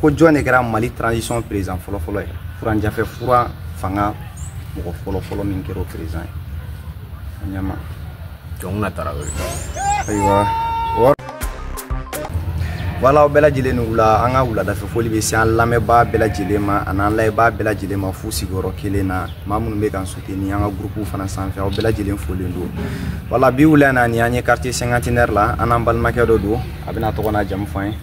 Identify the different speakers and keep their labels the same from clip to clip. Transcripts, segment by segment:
Speaker 1: ko jɔn de kɛra mali transition président fɔlɔfɔlɔ ye furancɛ fɛ fura fanga mɔgɔ fɔlɔfɔlɔ min kɛra o président ye ɲɛmaa jɔnkunda tarawele ayiwa voilà aw bɛɛ lajɛlen ni wula an ka wuladafɛ foli bɛ se an lamɛnbaa bɛɛ lajɛlen ma ani an lajɛbaa bɛɛ lajɛlen ma f'u sigiyɔrɔ kelen na maa minnu bɛ k'an suteni an ka gurupuw fana sanfɛ aw bɛɛ lajɛlen folen don voilà bi wula na ni an ye quartier cinquantenaire la an n'an balimakɛ dɔ don a bɛn'a tɔgɔ n'a jamu fɔ an ye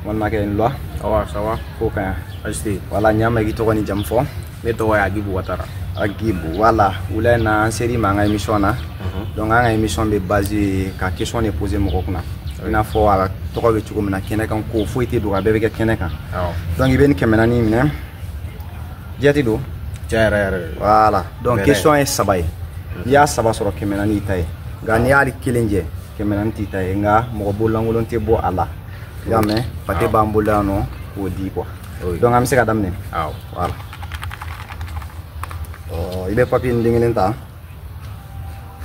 Speaker 1: balimakɛ nlwa awa sawa ko ka yan asite voilà ɲa ma i k'i tɔgɔ ni jamu fɔ ne tɔgɔ ye agibu watara agibu voilà wula in na an ser'i ma an ka émission na mhm. donc an ka émission bɛ base ka question de poser mɔgɔ kunna i n'a fɔ a tɔgɔ bɛ cogo min na kɛnɛ kan ko foyi tɛ dogo a bɛɛ bɛ kɛ kɛnɛ kan donc i bɛ nin kɛmɛ naani minɛ jati don tiɲɛ yɛrɛ yɛrɛ voilà donc question ye saba ye n'i y'a saba sɔrɔ kɛmɛ naani y'i ta ye nka n'i ye hali kelen jɛ kɛmɛ naani t'i ta ye nka mɔgɔ bololankolon tɛ bɔ a la i y'a mɛn pate b'an bolo yan an k'o di quoi donc an bɛ se ka daminɛ voilà i bɛ papiye nin den kelen ta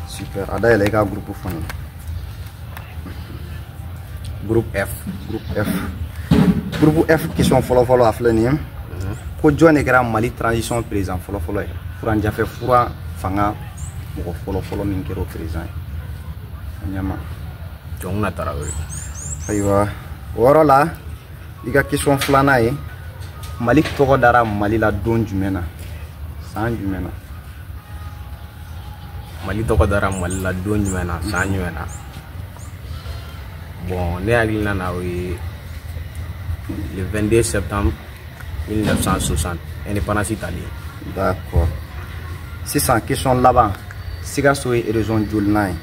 Speaker 1: super a dayɛlɛ i ka groupe fɔ n ye groupe f groupe f groupe f question fɔlɔfɔlɔ a filɛ nin ye ko jɔn de kɛra mali transition président fɔlɔfɔlɔ ye furancɛ fɛ fura fanga mɔgɔ fɔlɔ fɔlɔ min kɛra o président ye ɲɛmaa jɔnkunda tarawele ayiwa o yɔrɔ la i ka question filanan ye mali tɔgɔ dara mali la don jumɛn na san jumɛn na mali tɔgɔ dara mali la don jumɛn na san jumɛn na bon ne hakilina na o ye le 22 septembre 1960 indépendance talen d'accord sisan question laban sikaso ye région jolinan ye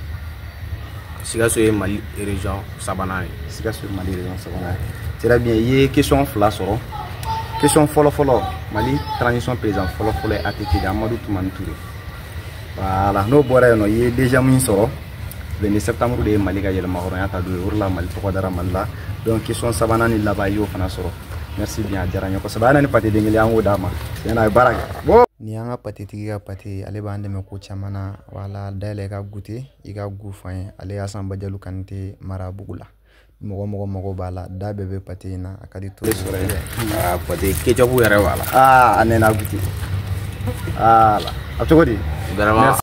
Speaker 1: sikaso ye mali région sabanan ye sikaso ye mali région sabanan ye très bien i ye question fila sɔrɔ question fɔlɔfɔlɔ mali transition président fɔlɔfɔlɔ ye att de amadu tumani ture voilà n'o bɔra yen nɔ i ye déjà min sɔrɔ 22 septembre de ye mali ka yɛrɛmahɔrɔnya ta don ye o de la mali tɔgɔ dara mali la donc question sabanan ni laban i y'o fana sɔrɔ merci bien a diyara n ye kosɛbɛ a na ni pate den kelen an k'o d'a ma tiɲɛ na a ye baara kɛ bon nin y'an ka pate tigi ka pate ye ale b'an dɛmɛ ko caman na voilà a dayɛlɛ i k'a gute i k'a gu f'an ye ale y'a san bajalu kanite mara bugu la mɔgɔ o mɔgɔ mago b'a la da bɛɛ bɛ pate in na a ka di to sɔrɔ ye dɛ pate ketchup yɛrɛ b'a la aa a nɛnɛ gute ala a cogo di